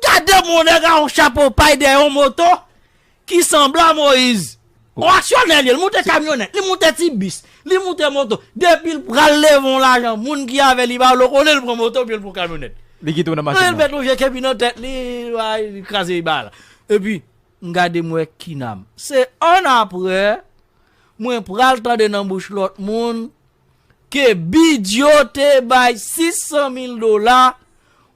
Gade moun nèg a yon chapo pay dèyè yon moto ki sanble a Moise. Ou aksyonè li, li moute kamyonèt, li moute ti bis, li moute moto, depi l pral leve yon lajan moun ki avè li pa vle konnen l pran moto oubyen l pran kamyonèt. Li kite w nan machin nan. Li met yon je kepi nan tèt li, bay li kraze bagay la. Epi m gade m wè Kinam. Se annapre mwen pral tande nan bouch lòt moun Ke Bidyo te bay 600 mil dola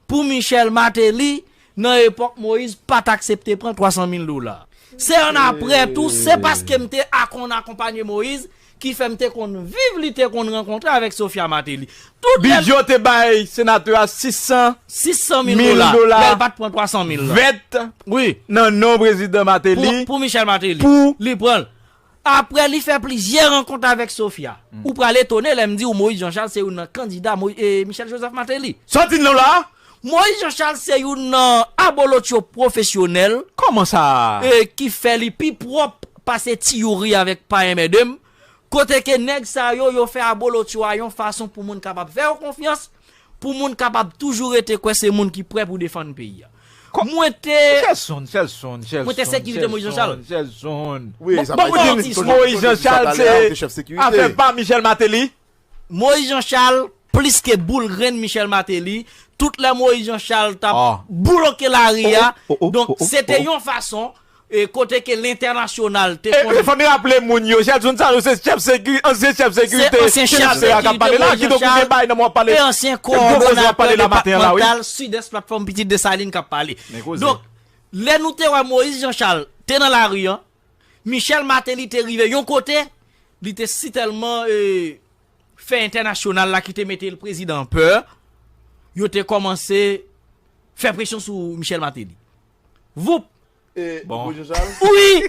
pou Michel Mateli nan epok Moise pat aksepte pran 300 mil dola. Se an apre tou se paske m te akonn akonpanye Moise ki fè m te konn viv li te konn rankontre avek Sophia Mateli. Tout lè l. Bidyo te bay senatè a 600 600 mil mil dola dola lè l pat pran 300 mil lan. vèt Wi. nan non prezidan Mateli. Pou Michel Mateli. Pou. Li pran l. Aprè li fè plizyè rankont avèk Sofia. Ou pral etone lè m di ou Moïse Jean Charles se youn nan kandida Michel Joseph Martelly. Sa w di nan w la a? Moïse Jean Charles se youn nan abolotcho pwofesyonèl. Kòman sa? Ki fè li pi pwòp pase Ti Youri avèk Pa Enmède m. Kote ke nèg sa yo, yo fè abolotcho a yon fason pou moun kapab fè yo konfyans. Pou moun kapab toujou rete kwè se moun ki prè pou defann peyi a. Mwen te. Shelson, Shelson, Shelson, Mwen te sekirite Moïse Jean Charles. Shelson, Shelson. Wi, sa pa di li toujou, Moïse Jean Charles se afè pa Michel Martelly. Moïse Jean Charles plis ke boul grenn Michel Martelly, tout lè Moïse Jean Charles tap bouloke lari a, donk se te yon fason. E kote ke lentènasyonal te konn. E fò n raple moun yo, Gelson sa yo se chèf sekirite, ansyen chèf sekirite senatè a k ap pale la. Ki dokimen bay nan wap pale, ki gwo koze wap pale la maten an la wi. Ansyen kowòdonatè depatmantal Sidès Platfòm Pitit Desalin k ap pale. Donk, lè nou te wè Moïse Jean Charles te nan lari an, Michel Martelly te rive yon kote, li te si tèlman fè entènasyonal la ki te mete prezidan an pè, yo te kòmanse fè presyon sou Michel Martelly. Voup! E Bon. Boujou sa l? Ui!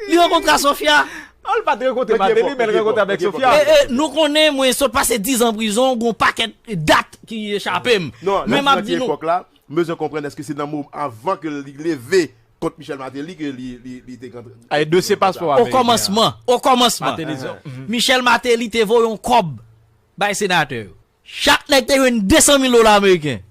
Li rankontre a Sofia! Oh li pat rankontre Mete Martelly, fò, men l mete fò, rankontre avèk mete fò, Sofia. mete E, fò. e, nou konnen mwen sot pase 10 an prizon, gon pakèt dat ki echape m. Non, lè Men m di nan map ki di nou. epòk la, m bezwen konprann èske se nan mo avan ke li leve kont Michel Martelly ke li li li te kontre E li te dosye rankontre a. paspò O ameriken an. kòmansman, o kòmansman, Martelly di, Ahan. mhm. Michel Martelly te voye yon kòb bay senatè yo. Chak nèg te jwenn 200 mil dola ameriken.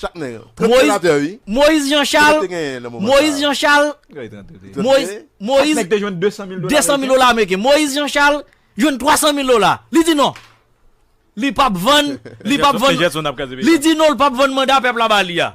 Chak nèg. 30 senatè wi. Moyiz Jan Chal. Kibèk te genyen nan moman sa a? Moyiz Jan Chal. Kibèk te genyen? 30 mil. Moyiz. Chak nèg te jwenn 200 mil dola ameriken. 200 mil dola ameriken. Moyiz Jan Chal jwenn 300 mil dola. Li di non. Li pap vann. Li pap vann. Li di non li pap vann manda pèp la ba li a.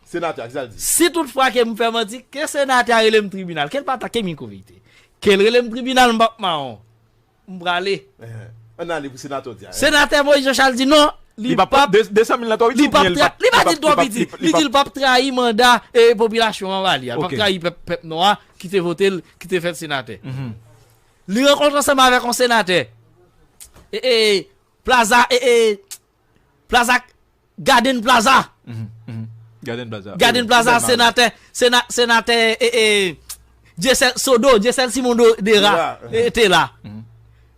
Senatè a, kisa l di? Si tout fwa ke m fè manti, ke senatè a rele m tribinal, ke l pa atake m iko verite. Ke l rele m tribinal m p ap mawon. M prale. An n ale pou senatè w di a. Senatè Moïse Jean Charles di non, li p ap, li p ap tra, li pa di l twò piti, li di l p ap trayi manda e popilasyon an ba li a. L p ap trayi pèp, pèp nò a ki te vote l, ki te fè l senatè. Li rankontre ansanm avèk yon senatè. E e, Plaza e e. Plaza Garden Plaza Garden Plaza Garden Plaza Senatè Senatè Dyesèl Sodo Dyesèl Simon Dera te la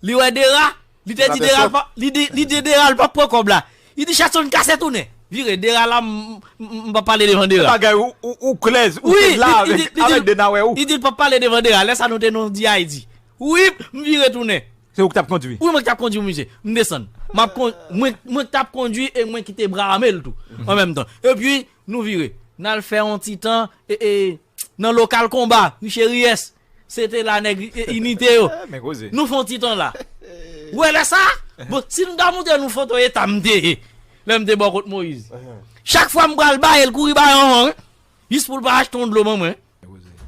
Li wè Dera Li te di Dera Li di Dera l pap pran kòb la Li di Chatson kase tounen Vire Dera la m pap pale devan Dera Bagay ou klè Ou te la avèk Dena wè ou Li di l pap pale devan Dera Lè sa nou te nan Di Ayiti Wi, m vire tounen. Se ou ki t ap kondui? Wi, mwen ki t ap kondui misye. M desann. M ap kon, mwen, mwen ki t ap kondui e mwen ki te bra ame l tou, an menm tan. Epi, nou vire. N al fè yon ti tan e, e, nan lokal konba, Richeriès. Se te la nèg inite yo. Men koze. Nou fè yon ti tan la. Ou wè lè sa a? Bon, si m ta montre nou foto eta m te ye, lè m te bò kot Moyiz. Chak fwa m pral ba e l kouri ba yon an, wi. Jis pou l pa achte yon dlo ban mwen.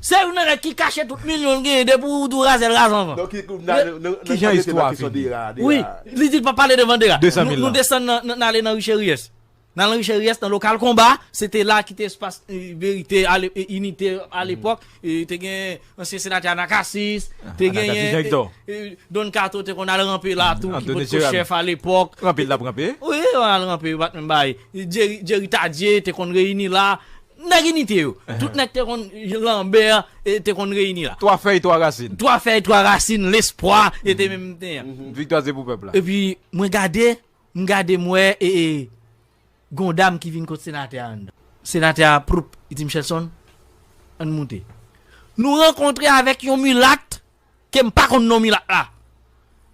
Se youn nan nèg ki kache tout milyon l genyen depi w di w raze l raze anvan. Kijan istwa a fini? Wi, li di l pa pale devan Dera. Nou desann nan n ale nan Richeriès. N al nan Richeriès nan lokal konba, se te la ki te espas verite, inite alepòk. Te gen ansyen senatè Anakasis, te genyen Don Kato te konn al ranpe la tou ki pot ko chèf alepòk. Ranpe l t ap ranpe? Wi, yo al ranpe yo pa t menm bay. Djeri Tadye te konn reyini la. Nèg inite yo. Tout nèg te konn Lambert te konn reyini la. Twa fèy twa rasin. Twa fèy twa rasin lespwa yo te menm te yan. Viktwa se pou pèp la. Epi mwen gade, m gade m wè gon dam ki vin kot senatè a anndan. Senatè a proup li di Michelson an n moute. Nou rankontre avèk yon milat ke m pa konn non milat la.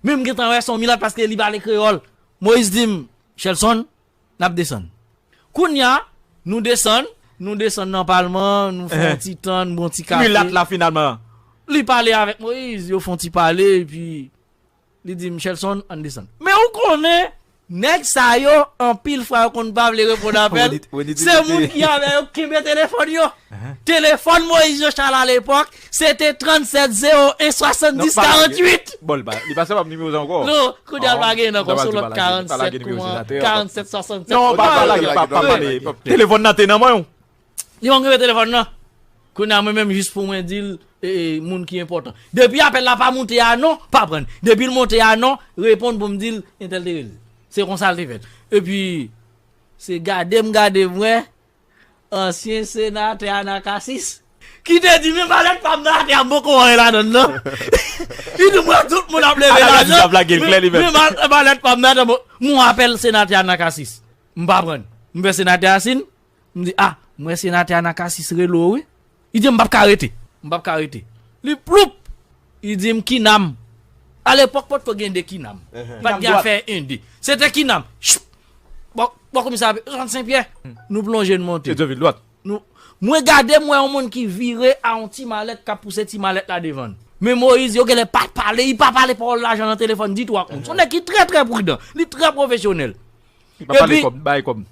Men m gentan wè se yon milat paske li pale kreyòl. Moïse di m Michelson N ap desann. Kounya, nou desann. Nou desann nan palman an, nou fè yon ti tan, nou bwè yon ti kafe. Milat la finalman. Li pale avèk Moyiz, yo fè yon ti pale, epi li di Michelson, ann desann. Men ou konnen, nèg sa yo, anpil fwa yo konn pa vle reponn apèl. Se moun ki avè yo ki kenbe telefòn yo. Telefòn Moïse Jean Charles a lepòk, se te 37 01 70 48! Bon, li pa, li pa sèv'ap nimewo sa ankò? Non, kounye a l pa genyen nan kò, son lòt 47 kouman, 47 67. Non, pa pale, pa pale, pa pale. Telefòn nan te nan men w? Li pa konn kenbe telefòn nan. Kounye a mwen menm jis pou mwen di l, e, moun ki enpòtan. Depi apèl la pa moute a non, pa pran. Depi l monte a non, reponn pou m di l, entèl te rele. Se konsa l te fèt. Epi, se gade m gade m wè, Ansyen senatè Anacacis ki te di men malèt pam nan atè an poko anyen ladann nan li di mwen tout moun ap leve lajan men malèt pam nan atè mwen apèl senatè Anacacis m pa prann m wè senatè Asinn m di ah m wè senatè Anacacis rele w wi. Li di m pap ka rete. M pap ka rete. Li ploup! Li di m kinam. A lepòk potko gen 2 kinam. Pat gen afè 1 2. Se te kinam. Chip! Bò bò komisè a Jean Sen Pyè. Nou plonje n monte. Se dwe vil dwat. Nou Mwen gade m wè yon moun ki vire a yon ti malèt k ap pouse ti malèt la devan l. Men Moyiz yo genlè pa pale. Li pa pale pawòl lajan nan telefòn ditou ak moun. S on nèg ki trè trè pridan. Li trè pwofesyonèl. Epi,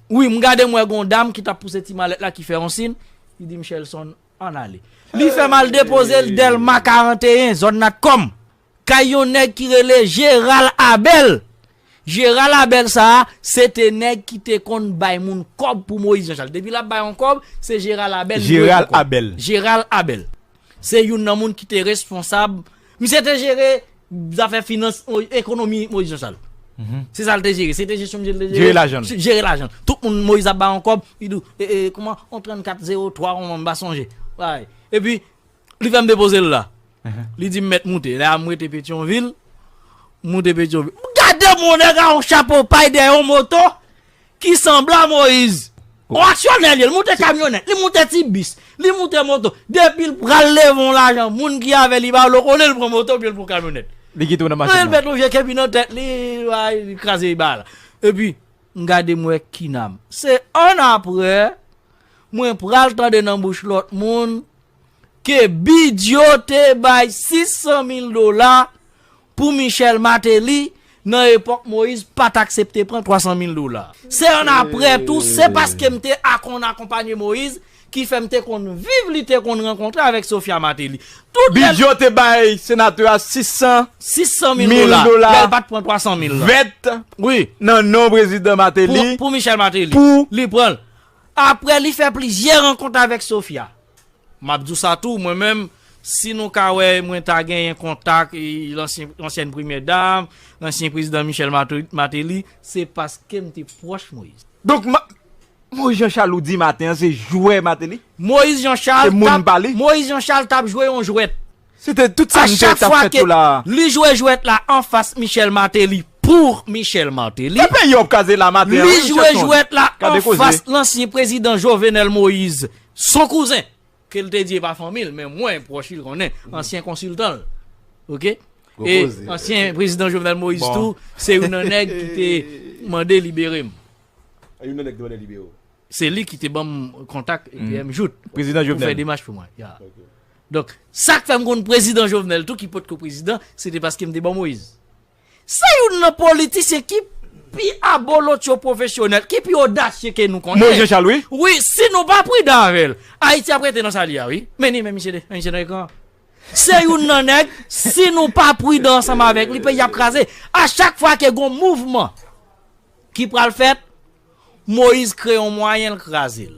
wi, m gade m wè gon dam ki t ap pouse ti malèt la ki fè yon sin, li di m Shelson, ann ale. Li fè m al depoze l Dèlma 41, zòn Natcom, kay yon nèg ki rele Jeral Abèl. Jeral Abèl sa a, se te nèg ki te konn bay moun kòb pou Moyiz Janchal. Depi l ap bay yon kòb, se Jeral Abèl li voye pou kòb. Jeral Abèl. Se youn nan moun ki te responsab. Misye te jere zafè finans, ekonomi Moïse Jean Charles. Se sa l te jere. Se te jesyon misye l te jere. Jere lajan l. Jere lajan l. Tout moun Moïse ap ba yon kòb, li di w, e, e, kouman, yon 34 0 3 yon m pa sonje. Bay. E pi, li fè m depoze l la. Li di m mèt moute. Lè a m rete Petyonvil, m moute Petyonvil. M gade m wè yon nèg ak yon chapo pay dèyè yon moto, Ki sanbla Moyiz. Ou aksyonè li, li moute kamyonèt, li moute ti bis, li moute moto. Depi l pral leve yon lajan, moun ki avè li pa vle konnen l pran moto oubyen l pran kamyonèt. Li kite w nan machin nan. Li met yon je kepi nan tèt li, bay, li kraze ba la. Epi, m gade m wè Kinam. Se annapre, mwen pral tande nan bouch lòt moun. Ke Bidyo te bay 600 mil dola pou Michel Martelly nan epòk Moïse pat aksepte pran 300 mil dola. Se an aprè tou se paske m te akonn akonpanye Moïse ki fè m te konn viv li te konn rankontre avèk Sophia Martelly. Tout lè l. Bidyo te bay senatè a 600. 600 mil dola. Lè l pat pran 300 mil lan. Vèt nan non prezidan Martelly. Pou Michel Martelly. Pou. Li pran l. Aprè li fè plizyè rankont avèk Sofia. M ap di w sa tou, mwen menm, si nou ka wè mwen ta genyen kontak lansyèn premyè dam, lansyen prezidan Michel Martelly, se paske m te pwòch Moïse. Donk, Moïse Jean Charles ou di maten an se jwè Martelly? Moïse Jean Charles t ap jwe yon jwèt. Se te tout sa m te tap fè tou la. Li jwe jwèt la anfas Michel Martelly pour Michel Martelly. E peyi ap kraze la maten an wi Michel Ton. Li jwe jwèt la anfas lansyen prezidan Jovenel Moïse, son kouzen, ke l te di e pa fanmi l men mwen pwòch li l konnen, ansyen konsiltan l. Ok. E ansyen prezidan Jovenel Moïse tou se youn nan nèg ki te mande libere m. Se youn nan nèg ki te mande libere w. Se li ki te ban m kontak PM Jouthe pou fè demach pou mwen. Donk, sa k fè m konn prezidan Jovenel tou ki potko prezidan, se te paske m te ban Moïse. Se youn nan politisyen ki pi abolotyo pwofesyonèl, ki pi odasye ke nou konnen. Moïse Jean Charles wi. Wi, si nou pa pridan avè l, Ayiti ap rete nan sa li a wi. Men li menm misye de, misye nan ekran an. Se youn nan nèg, si nou pa pridan ansanm avèk li, peyi a ap kraze. A chak fwa ke gon mouvman ki pral fèt, Moïse kreye yon mwayen l kraze l.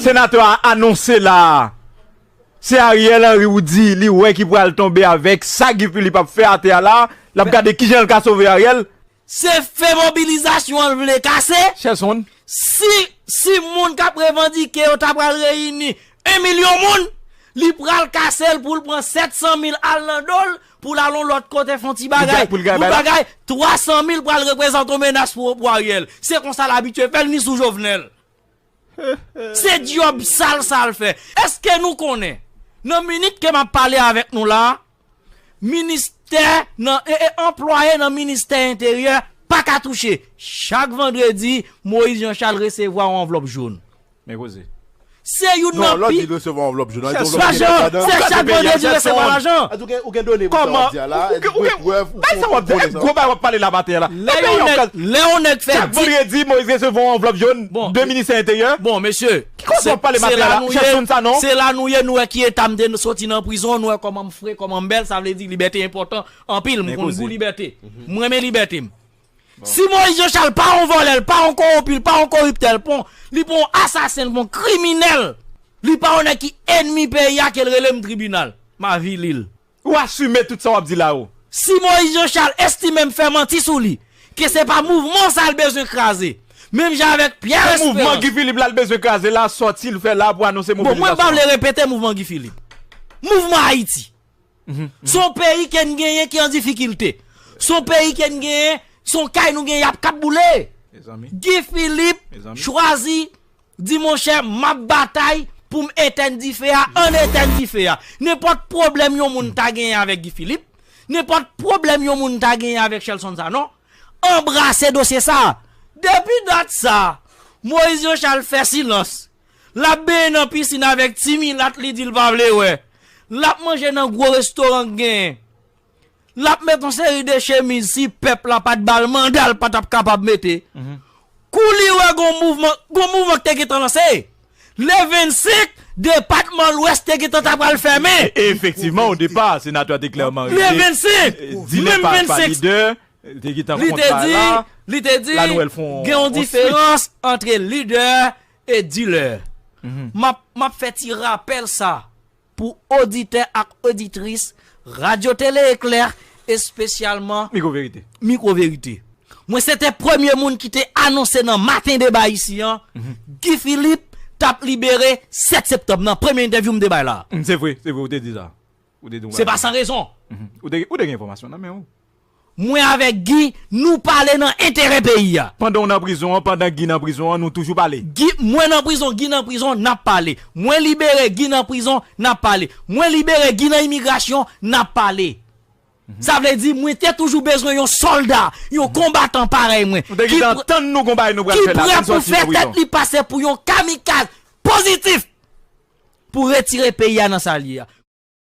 Senatè a anonse la a, se Ariel Henry ou di li wè ki pral tonbe avèk sa Guy Philippe ap fè atè a la a, l ap gade kijan l ka sove Ariel? Se fè mobilizasyon an l vle kase? Chè Son. Si, si moun k ap revandike yo ta pral reyini 1 milyon moun, li pral kase l pou l pran 700 mil al nan do l pou l al yon lòt kote fè yon ti bagay, pou l bagay, 300 mil pral reprezante yon menas pou Ariel. Se konsa l abitye fè l ni sou Jovenel. Se dyob sal sa l fè. Eske nou konnen, nan minit ke m ap pale avèk nou la a, ministè nan, e, e, anplwaye nan ministè enteryè pa ka touche. Chak vandredi, Moïse Jean Charles resevwa yon anvlòp joun. Men koze. Se youn nan pi. Non, lò di l resevwa yon anvlòp joun, an l gen yon anvlòp ki gen lajan ladan? Se chak vandredi l resevwa lajan. Ou gen done pou sa w ap di a la a? Ou gen prèv? Bay sa wap di la, e gwo bagay wap pale la maten an la. Lè yon nèg, lè yon nèg fè 10. Chak vandredi Moïse resevwa yon anvlòp jón de ministè enteryè. Bon mesye, Ki koze wap pale maten an la, ou chèche konn sa non. Se la nou ye, nou wè ki eta m te soti nan prizon, nou wè kòman m fre, kòman m bèl, sa vle di libète enpòtan anpil, m konn gou libète. M renmen libète m. Si Moïse Jean Charles pa yon vòlè, l pa yon kowonpi, l pa yon koriptè, l pa yon, li pa yon asasen, l pa yon kriminèl, li pa yon nèg ki enmi peyi a ke l rele m tribinal, m avili l. Ou asime tout sa wap di la ou. Si Moïse Jean Charles estimem fè manti sou li, ke se pa mouvman sa l bezwen kraze. Menm jan avèk Pierre Esperance. Bon mouvman Guy Philippe la l bezwen kraze la, sòti l fè la pou anonse mobilizasyon an. Bon mwen pa vle repete mouvman Guy Philippe. Mouvman Haïti. Se yon peyi ke n genyen ki an difikilte. Se yon peyi ke n genyen, se yon kay nou genyen yap kap boule. Guy Philippe chwazi. Di monchè map batay poum etèn dife a ann etèn dife a. Nenpòt pwoblèm yon moun ta genyen avèk Guy Philippe, nenpòt pwoblèm yon moun ta genyen avèk Shelson Sanon, anbrase dosye sa a. Depi dat sa a, Moïse Jean Charles fè silans. Lap benyen nan pisin avèk ti milat li di l pa vle wè. Lap manje nan gwo restoran k genyen. lap met yon seri de chemiz si pèp la pat bal manda l patap kapab mete kou li wè gon mouvman gon mouvman ki te gentan lanse le 25 depatman lwès te gentan ta pral fèmen e efektivman o depa senatè a te klèman le 25 di lè pa lidè te gentan kont bagay la li te di gen yon diferans antre lidè e dilè map fè ti rapèl sa pou oditè ak oditris Radyo Tele Eklè, espesyalman Mikwo Verite. Mikwo Verite. Mwen se te premye moun ki te anonse nan Maten Deba isi an, Guy Philippe t ap libere 7 septanm nan premye entèvyou m te bay la a. Se vre, se vre, ou te di sa. Se pa san rezon. Ou te gen enfòmasyon nan men ou. Mwen avek Guy nou pale nan enterè peyi a. Pandan w nan prizon an pandan Guy nan prizon an nou toujou pale. Guy mwen nan prizon Guy nan prizon nap pale mwen libere Guy nan prizon nap pale mwen libere Guy nan imigrasyon nap pale sa vle di mwen te toujou bezwen yon solda yon konbatan parèy mwen ki prè pou fè tèt li pase pou yon kamikaz pozitif pou retire peyi a nan sa l ye a.